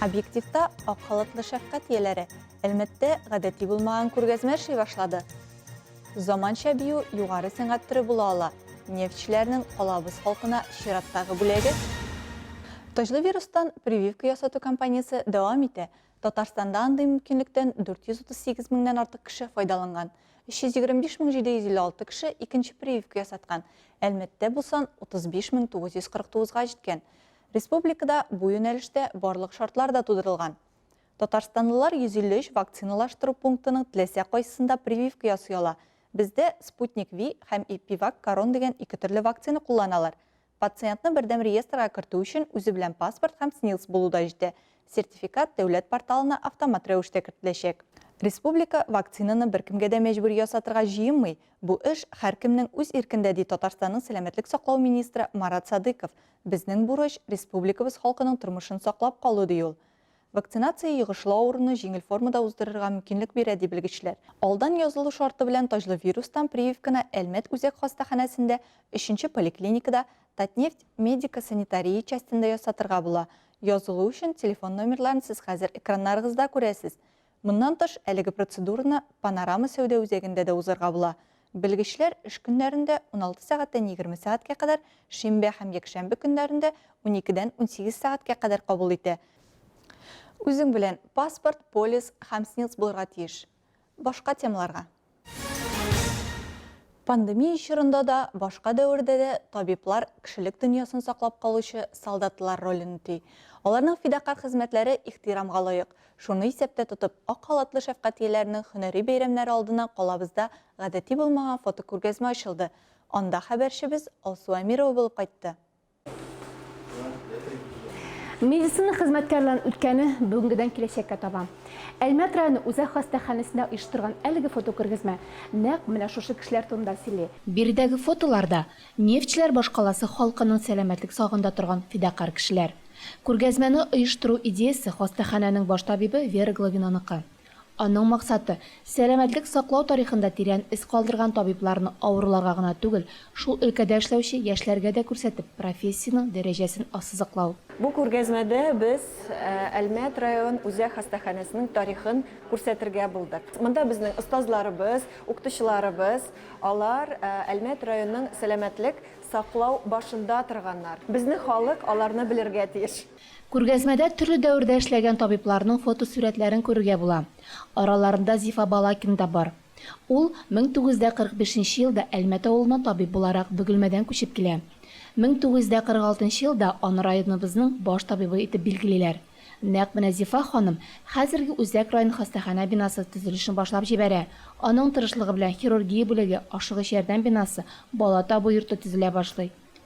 Объективта ак халатлы шәфкать ияләре Әлмәттә гадәти булмаган күргәзмә эшли башлады. Заманча бию югары сәнгать төре була ала. Нефтьчеләрнең калабыз халкына чираттагы бүләге Таҗлы вирустан прививка ясату кампаниясе дәвам итә. Татарстанда андый мөмкинлектән 438 меңнән артык кеше файдаланган. 325 мең 756 кеше икенче прививка ясаткан. Әлмәттә бу сан 35 мең 949 га җиткән. Республикада бу юнәлештә барлык шартлар да тудырылган. Татарстанлылар 153 вакциналаштыру пунктының теләсә кайсысында прививка ясый ала. Бездә Sputnik V һәм Epivac Корон дигән ике төрле вакцина кулланалар. Пациентны бердәм реестрга кертү өчен үзе белән паспорт һәм СНИЛС булу да җитә. Сертификат дәүләт порталына автомат рәвештә кертеләчәк. Республика вакцинаны беркемгә дә мәҗбүри ясатырга җыенмый, бу эш һәркемнең үз иркендә, ди Татарстанның сәламәтлек саклау министры Марат Садыйков, Безнең бурыч, республикабыз халкының тормышын саклап калу, ди ул. Вакцинация йогышлы авыруны җиңел формада уздырырга мөмкинлек бирә, ди белгечләр. Алдан язылу шарты белән таҗлы вирустан прививканы Әлмәт үзәк хастаханәсендә, өченче поликлиникада, Татнефть медико-санитария частендә ясатырга була. Язылу өчен телефон номерларын сез хәзер экраннарыгызда күрәсез. Моннан тыш, әлеге процедураны Панорама сәүдә үзәгендә дә узарга була. Белгечләр эш көннәрендә, 16 сәгатьтән 20 сәгатькә кадәр, шимбә һәм якшәмбе көннәрендә, 12-дән 18 сәгатькә кадәр кабул итә. Үзең белән паспорт, полис һәм СНИЛС булырга тиеш. Башка темаларга. Пандемия чорында да, башка дәвердә дә табиблар кешелек дөньясын саклап калучы солдатлар ролен үти. Аларның фидакарь хезмәтләре ихтирамга лаек. Шуны исәптә тотып, ак халатлы шәфкатьияләрнең һөнәри бәйрәмнәре алдына калабызда гадәти булмаган фотокүргәзмә ачылды. Анда хәбәрчебез Алсу Әмирова булып кайтты. Медицина хезмәткәрләрен үткәне бүгенгедән киләчәккә таба. Әлмәт районы үзәк хастаханәсендә оештырган әлеге фотокүргәзмә нәкъ менә шушы кешеләр турында сөйли. Биредәге фотоларда нефтьчеләр башкаласы халкының сәламәтлек сагында торган фидакарь кешеләр. Күргәзмәне оештыру идеясе хастаханәнең баш табибы Вера Главинаныкы. Аның максаты, сәламәтлек саклау тарихында тирән эз калдырган табибларны авыруларга гына түгел, шул өлкәдә эшләүче яшьләргә дә күрсәтеп, профессиянең дәрәҗәсен ассызыклау. Бу күргәзмәдә без Әлмәт район үзәк хастаханәсенең тарихын күрсәтергә булдык. Монда безнең остазларыбыз, укытучыларыбыз, алар Әлмәт районының сәламәтлек саклау башында торганнар. Безнең халык аларны белергә тиеш. Күргәзмәдә төрле дәвердә эшләгән табибларның фотосурәтләрен күрергә була. Араларында Зифа Балакин да бар. Ул 1945 нче елда Әлмәт авылына табиб буларак Бөгелмәдән күчеп килә. 1946 нчы елда аны районыбызның баш табибы итеп билгелиләр. Нәкъ менә Зифа ханым хәзерге Үзәк район хастаханә бинасы төзелешен башлап җибәрә, аның тырышлыгы белән хирургия бүлеге, ашыгыч ярдәм бинасы, бала табу йорты төзелә башлый.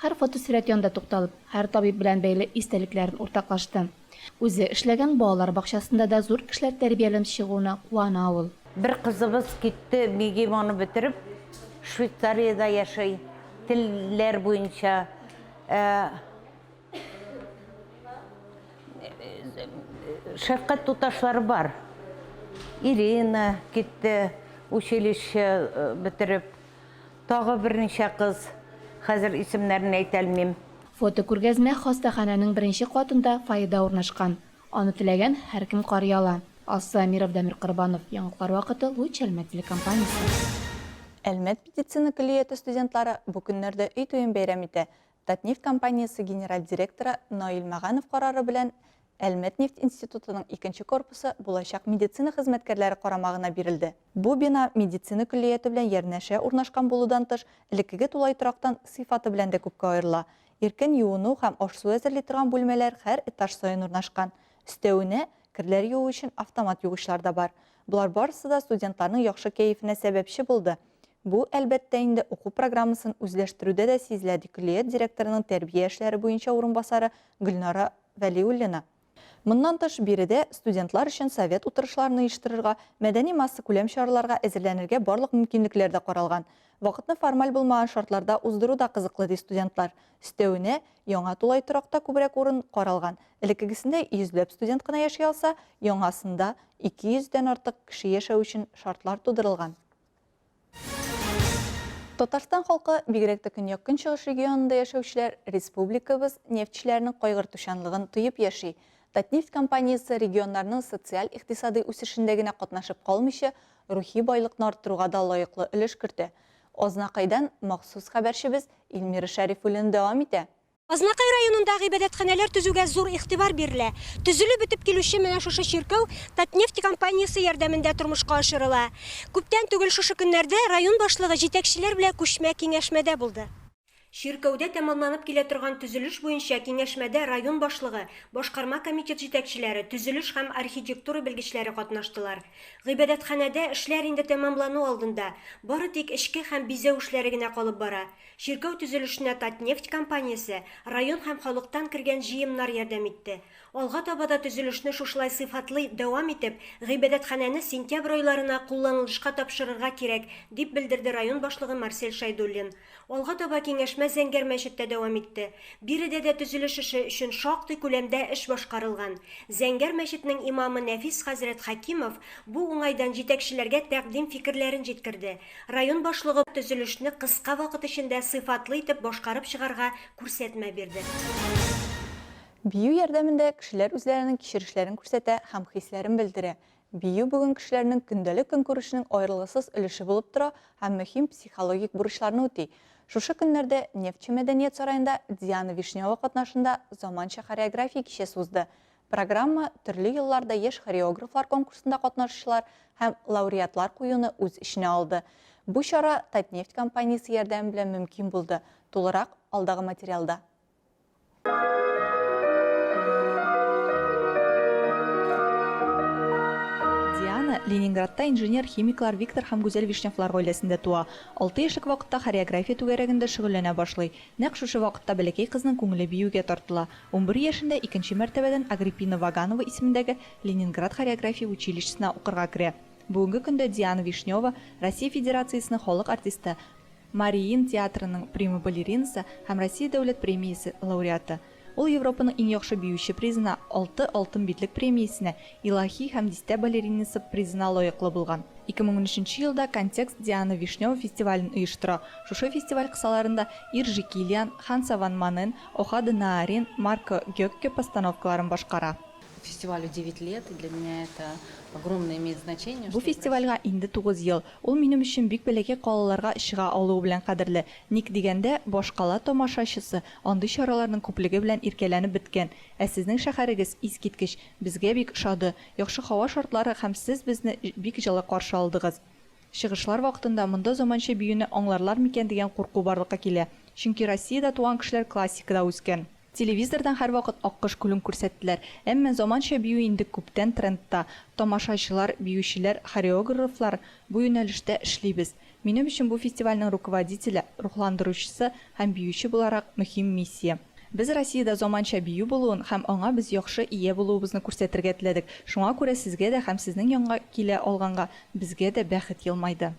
Һәр фотосурәт янында тукталып, һәр табиб белән бәйле истәлекләрен уртаклашты. Үзе эшләгән балалар бакчасында да зур кешеләр тәрбияләнеп чыгуына куана ул. Бер кызыбыз китте, МИГИМОны бетереп, Швейцариядә яши, телләр буенча. Ә шәфкать туташлары бар. Ирина китте, училище бетереп. Тагы берничә кыз, хәзер исемнәрен әйтәлмим. Фотокүргәзмә хастаханәнең беренче катында фойеда урнашкан. Аны теләгән һәркем карый ала. Алсу Әмиров, Дамир Корбанов, Яңалыклар вакыты, Луч Әлмәт телекомпаниясе. Әлмәт медицина көллияте студентлары бу көннәрдә өй туен бәйрәм итә. Татнефть компаниясе генераль директоры Наил Мәганов карары белән Әлмәт нефть институтының икенче корпусы булачак медицина хезмәткәрләре карамагына бирелде. Бу бина медицина көллияте белән ярнәшә урнашкан булудан тыш, элеккеге тулай торактан сыйфаты белән дә күпкә аерыла. Иркен юыну һәм аш-су әзерли торган бүлмәләр һәр этаж саен урнашкан. Өстәвенә, керләр юу өчен автомат югычлар да бар. Болар барысы да студентларның яхшы кәефенә сәбәпче булды. Бу, әлбәттә инде, уку программасын үзләштерүдә дә сизелә, ди көллият директорының тәрбия эшләре буенча урынбасары Гөлнара Вәлиуллина. Моннан тыш, биредә студентлар өчен совет утырышларын оештырырга, мәдәни массакүләм чараларга әзерләнергә барлык мөмкинлекләр дә каралган. Вакытны формаль булмаган шартларда уздыру да кызыклы, ди студентлар. Өстәвенә, яңа тулай торакта күбрәк урын каралган. Элеккегесендә йөзләп студент кына яши алса, яңасында 200 дән артык кеше яшәү өчен шартлар тудырылган. Татарстан халкы, бигрәк тә көньяк-көнчыгыш регионында яшәүчеләр республикабыз нефтьчеләренең кайгыртучанлыгын тоеп яши. Татнефть компаниясе регионнарның социаль-икътисадый үсешендә генә катнашып калмыйча, рухи байлыкны арттыруга да лаеклы өлеш кертә. Азнакайдан махсус хәбәрчебез Илмира Шәрифуллина дәвам итә. Азнакай районында гыйбадәтханәләр төзүгә зур игътибар бирелә. Төзелеп бетеп килүче менә шушы чиркәү Татнефть компаниясе ярдәмендә тормышка ашырыла. Күптән түгел шушы көннәрдә район башлыгы җитәкчеләр белән күчмә киңәшмәдә булды. Чиркәүдә тәмамланып килә торган төзелеш буенча киңәшмәдә район башлыгы, башкарма комитет җитәкчеләре, төзелеш һәм архитектура белгечләре катнаштылар. Гыйбадәтханәдә эшләр инде тәмамлану алдында, бары тик эчке һәм бизәү эшләре генә калып бара. Чиркәү төзелешенә Татнефть компаниясе, район һәм халыктан кергән җыемнар ярдәм итте. Алга таба да төзелешне шушылай сыйфатлы дәвам итеп, гыйбадәтханәне сентябрь айларына кулланылышка тапшырырга кирәк, дип белдерде район башлыгы Марсель Шәйдуллин. Алга таба киңәшмә Зәңгәр мәчеттә дәвам итте. Биредә дә төзелеш эше өчен шактый күләмдә эш башкарылган. Зәңгәр мәчетнең имамы Нәфис хәзрәт Хәкимов бу уңайдан җитәкчеләргә тәкъдим фикерләрен җиткерде. Район башлыгы төзелешне кыска вакыт эчендә сыйфатлы итеп башкарып чыгарга күрсәтмә бирде. Бию ярдәмендә кешеләр үзләренең кичерешләрен күрсәтә һәм хисләрен белдерә. Бию бүген кешеләрнең көндәлек көнкүрешенең аерылгысыз өлеше булып тора һәм мөһим психологик бурычларны үти. Шушы көннәрдә Нефтьче мәдәният сараенда Диана Вишнева катнашында заманча хореография кичәсе узды. Программа төрле елларда яшь хореографлар конкурсында катнашучылар һәм лауреатлар куюны үз эченә алды. Бу чара Татнефть компаниясе ярдәме белән мөмкин булды, тулырак алдагы материалда. Диана Ленинградта инженер-химиклар Виктор һәм Гүзәл Вишневлар гаиләсендә туа. Алты яшьлек вакытта хореография түгәрәгендә шөгыльләнә башлый. Нәкъ шушы вакытта бәләкәй кызның күңеле биюгә тартыла. Унбер яшендә икенче мәртәбәдән Агриппина Ваганова исемендәге Ленинград хореография училищесына укырга керә. Бүгенге көндә Диана Вишнева, Россия Федерациясенең халык артисты, Мариин театрының прима-балеринасы һәм Россия Дәүләт премиясе лауреаты. Ул Европаның иң яхшы биюче призына, алты Алтын битлек премиясенә, Илаһи һәм дистә балеринасы призына лаеклы булган. 2013 елда Контекст Диана Вишнева фестивален оештыра, шушы фестиваль кысаларында Иржи Килиан, Ханса ван Манен, Охады Наарин, Марко Гёкке постановкаларын башкара. Фестивалю девять лет, и для меня это огромное имеет значение, Бу что в России. фестивальгә инде тугыз ел. Ул минем өчен бик бәләкәй калаларга чыга алуы белән кадерле. Ник дигәндә, башкала тамашачысы, Андый чараларның күплеге белән иркәләнеп беткән. Ә сезнең шәһәрегез, искиткеч! Безгә бик ошады. Яхшы һава шартлары һәм сез безне бик җылы каршы алдыгыз. Чыгышлар вакытында монда заманча биюне аңларлар микән дигән курку барлыкка килә. Чөнки Россиядә туган кешеләр классикада үскән. Телевизордан һәрвакыт Аккош күлен күрсәттеләр. Әмма заманча бию инде күптән трендта. Тамашачылар, биючеләр, хореогррфлар, бу юнәлештә эшлибез. Минем өчен бу фестивальнең руководителе, рухландыручысы һәм биюче буларак мөһим миссия. Без Россиядә заманча бию булуын һәм аңа без яхшы ия булуыбызны күрсәтергә теләдек. Шуңа күрә сезгә дә һәм сезнең янга килә алганга безгә дә бәхет елмайды.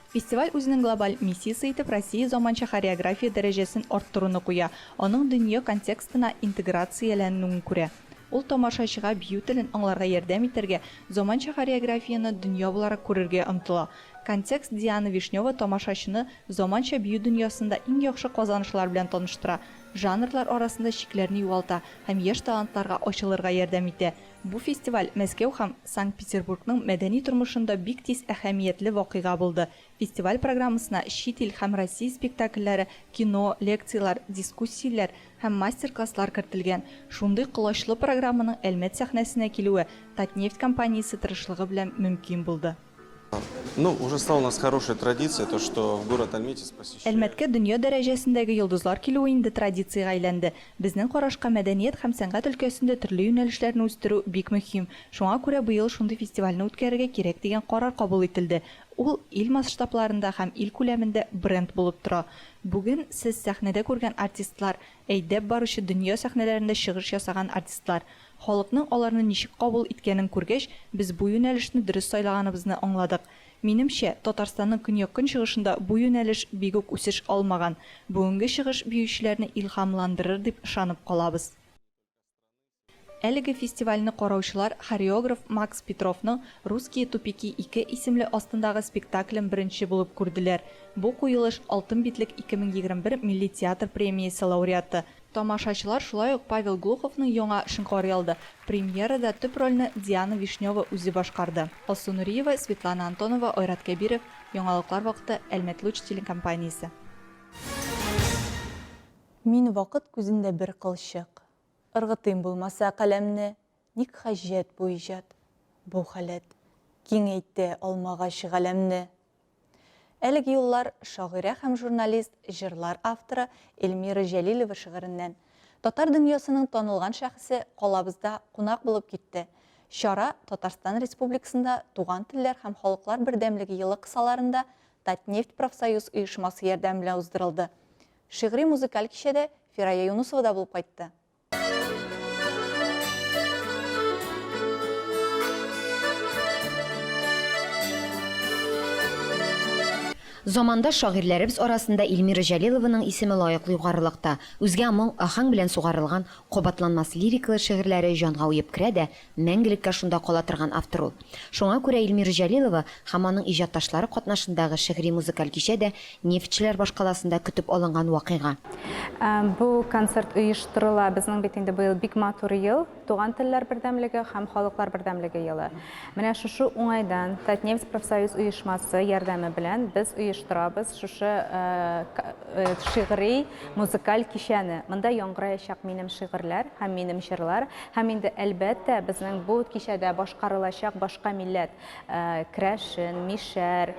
Фестиваль үзенең глобаль миссиясе итеп Россия заманча хореография дәрәҗәсен арттыруны куя, аның дөнья контекстына интеграцияләнүен күрә. Ул тамашачыга бию телен аңларга ярдәм итәргә, заманча хореографияне дөнья буларак күрергә омтыла. Контекст Диана Вишнева тамашачыны заманча бию дөньясында иң яхшы казанышлар белән таныштыра, жанрлар арасында чикләрне югалта һәм яшь талантларга ачылырга ярдәм итә. Бу фестиваль Мәскәү һәм Санкт-Петербургның мәдәни тормышында бик тиз әһәмиятле вакыйга булды. Фестиваль программасына чит ил һәм Россия спектакльләре, кино, лекцияләр, дискуссияләр һәм мастер-класслар кертелгән. Шундый колачлы программаның Әлмәт сәхнәсенә килүе Татнефть компаниясе тырышлыгы белән мөмкин булды. Әлмәткә дөнья дәрәҗәсендәге йолдызлар килүе инде традициягә әйләнде. Безнең карашка, мәдәният һәм сәнгать өлкәсендә төрле юнәлешләрне үстерү бик мөһим. Шуңа күрә быел шундый фестивальне үткәрергә кирәк дигән карар кабул ителде. Ул ил масштабларында һәм ил күләмендә бренд булып тора. Бүген сез сәхнәдә күргән артистлар, әйдәп баручы дөнья сәхнәләрендә чыгыш ясаган артистлар. Халыкның аларны ничек кабул иткәнен күргәч, без бу юнәлешне дөрес сайлаганыбызны аңладык. Минемчә, Татарстанның көньяк-көнчыгышында бу юнәлеш бик үк үсеш алмаган. Бүгенге чыгыш биючеләрне илһамландырыр дип ышанып калабыз. Әлеге фестивальне караучылар хореограф Макс Петровның Русские тупики ике исемле астындагы спектаклен беренче булып күрделәр. Бу куелыш Алтын битлек 2021 милли театр премиясе лауреаты, Тамашачылар шулай ук Павел Глуховның яңа эшен карый алды. Премьерада төп рольне Диана Вишнева үзе башкарды. Алсу Нуриева, Светлана Антонова, Айрат Кәбиров, Яңалыклар вакыты, Әлмәтлуч телекомпаниясе. Мин вакыт күзендә бер кылчык. Ыргытыйм булмаса каләмне, Ник хаҗәт бу иҗат, бу халәт, Киңәйтә алмагач галәмне. Әлеге юллар шагыйрә һәм журналист, җырлар авторы Эльмира Җәлилова шигыреннән. Татар дөньясының танылган шәхесе калабызда кунак булып китте. Чара Татарстан Республикасында Туган телләр һәм халыклар бердәмлеге елы кысаларында Татнефть профсоюз оешмасы ярдәме белән уздырылды. Шигъри-музыкаль кичәдә Фирая Юнусова да булып кайтты. Замандаш шагыйрьләребез арасында Ильмира Җәлилованың исеме лаеклы югарылыкта. Үзгә моң, аһәң белән сугарылган, кабатланмас лирикалы шигырьләре җанга уеп керә дә, Мәңгелеккә шунда кала торган автор ул. Шуңа күрә Илмира Җәлилова һәм аның иҗатташлары катнашындагы шигъри-музыкаль кичә дә нефтьчеләр башкаласында көтеп алынган вакыйга. Бу концерт оештырыла, безнең бит инде быел бик матур ел, Туган телләр бердәмлеге һәм халыклар бердәмлеге елы. Менә шушы уңайдан Татнефть профсоюз оешмасы ярдәме белән без оештырабыз шушы шигъри-музыкаль кичәне. Монда яңгыраячак минем шигырьләр һәм минем җырлар, Һәм инде, әлбәттә, безнең бу кичәдә башкарылачак башка милләт, крәшен, мишәр,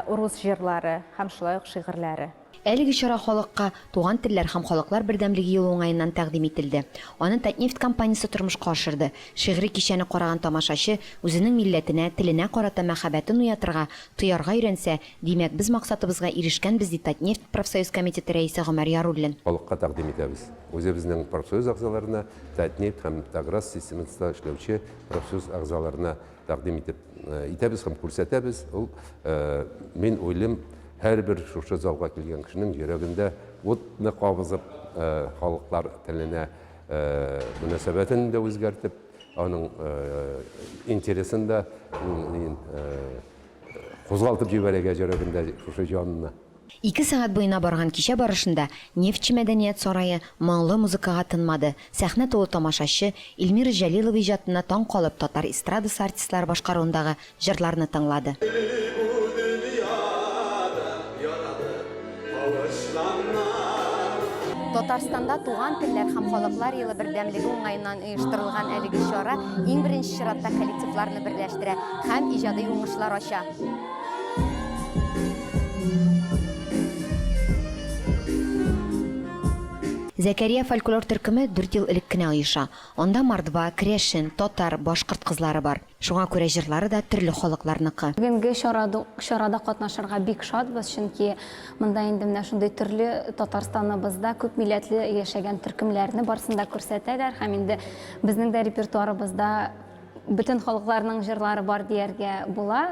урус җырлары һәм шулай ук шигырьләре. Әлеге чара халыкка Туган телләр һәм халыклар бердәмлеге елы уңаеннан тәкъдим ителде. Аны Татнефть компаниясе тормышка ашырды. Шигъри кичәне караган тамашачы үзенең милләтенә, теленә карата мәхәббәтен уятырга, тоярга өйрәнсә, димәк, без максатыбызга ирешкәнбез, ди Татнефть профсоюз комитеты рәисе Гомәр Яруллин. Халыкка тәкъдим итәбез. Үзебезнең профсоюз әгъзаларына Татнефть һәм Таграз системасында эшләүче профсоюз әгъзаларына тәкъдим итеп итәбез һәм күрсәтәбез. Ул мин уйлыйм, һәрбер шушы залга килгән кешенең йөрәгендә утны кабызып, халыклар теленә мөнәсәбәтен дә үзгәртеп, аның интересын да кузгалтып җибәрергә йөрәгендә шушы җанны. Ике сәгать буена барган кичә барышында Нефтьче мәдәният сарае моңлы музыкага тынмады, сәхнә тулы тамашачы, Илмира Җәлилова иҗатына таң калып татар эстрадасы артистлары башкаруындагы җырларны тыңлады. Татарстанда Туган телләр һәм халыклар елы бердәмлеге уңаеннан оештырылган әлеге чара иң беренче чиратта коллективларны берләштерә һәм иҗади уңышлар ача. Зәкәрия фольклор төркеме дүрт ел элек кенә оеша. Анда мордва, керәшен, татар, башкорт кызлары бар. Шуңа күрә җырлары да төрле халыкларныкы. Бүгенге чарада катнашырга бик шатбыз, чөнки монда инде менә шундый төрле Татарстаныбызда күп милләтле яшәгән төркемнәрне барсын да күрсәтәләр һәм инде безнең дә репертуарыбызда Бөтен халыкларның җырлары бар дияргә була.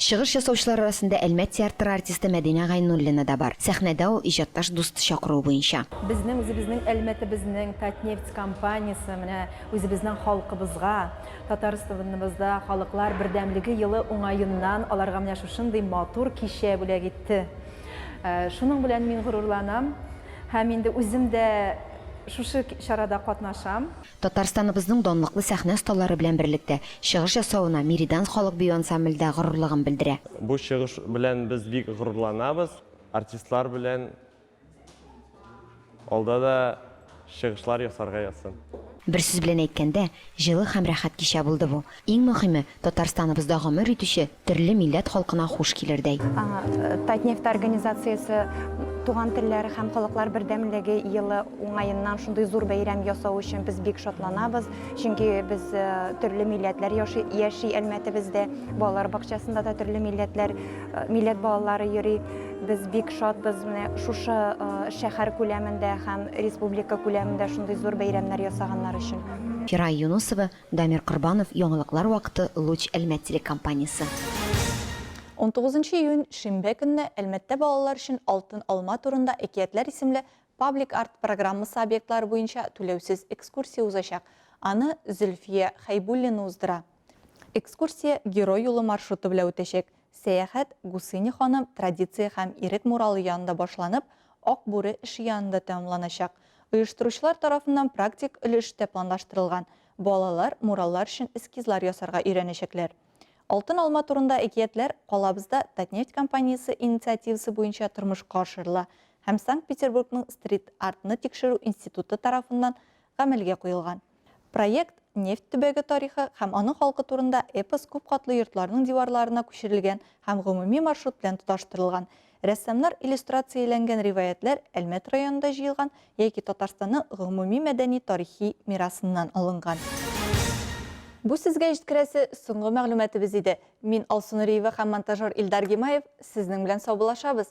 Чыгыш ясаучылар арасында Әлмәт театры артисты Мәдинә Гайнуллина да бар. Сәхнәдә ул, иҗатташ дусты чакыруы буенча. Безнең үзебезнең Әлмәтебезнең Татнефть компаниясе менә үзебезнең халкыбызга, Татарстаныбызда Халыклар бердәмлеге елы уңаеннан аларга менә шушындый матур кичә бүләк итте. Шуның белән мин горурланам. Һәм инде үзем дә шушы чарада катнашам. Татарстаныбызның данлыклы сәхнә осталары белән берлектә чыгыш ясавына Меридан халык бию ансамбле дә горурлыгын белдерә. Бу чыгыш белән без бик горурланабыз. Артистлар белән алда да чыгышлар ясарга язсын. Бер сүз белән әйткәндә, җылы һәм рәхәт кичә булды бу. Иң мөхиме, Татарстаныбызда гомер итүче терле милләт халкына хуш килердәй. Татнефть организациясе Туган телләр һәм халыклар бердәмлеге елы уңаеннан шундый зур бәйрәм ясау өчен без бик шатланабыз, чөнки без төрле милләтләр яши Әлмәтебездә, балалар бакчасында да төрле милләтләр, милләт балалары йөри. Без бик шатбыз, менә шушы шәһәр күләмендә һәм республика күләмендә шундый зур бәйрәмнәр ясаганнар өчен. Фирая Юнусова, Дамир Корбанов, яңалыклар вакыты, Луч Әлмәт телекомпаниясе. Унтугызынчы июнь, шимбә көнне Әлмәттә балалар өчен Алтын алма турында әкиятләр исемле Паблик арт программасы объектлары буенча түләүсез экскурсия узачак. Аны Зөлфия Хәйбуллина уздыра. Экскурсия Герой юлы маршруты белән үтәчәк. Сәяхәт Гусыня ханым традиция һәм Ирек муралы янында башланып, Ак бүре эше янында тәмамланачак. Оештыручылар тарафыннан практик өлеш тә планлаштырылган, балалар мураллар өчен эскизлар ясарга өйрәнәчәкләр. Алтын алма турында әкиятләр калабызда Татнефть компаниясе инициативасы буенча тормышка ашырыла һәм Санкт-Петербургның стрит-артны тикшерү институты тарафыннан гамәлгә куелган. Проект Нефть төбәге тарихы һәм аның халкы турында эпос күп катлы йортларның диварларына күчерелгән һәм гомуми маршрут белән тоташтырылган. Рәссамнар иллюстрацияләнгән риваятьләр Әлмәт районында җыелган яки Татарстанның гомуми мәдәни-тарихи мирасыннан алынган. Бу сезгә җиткерәсе соңгы мәгълүматыбыз иде. Мин Алсу Нуриева һәм монтажер Илдар Гимаев сезнең белән саубуллашабыз.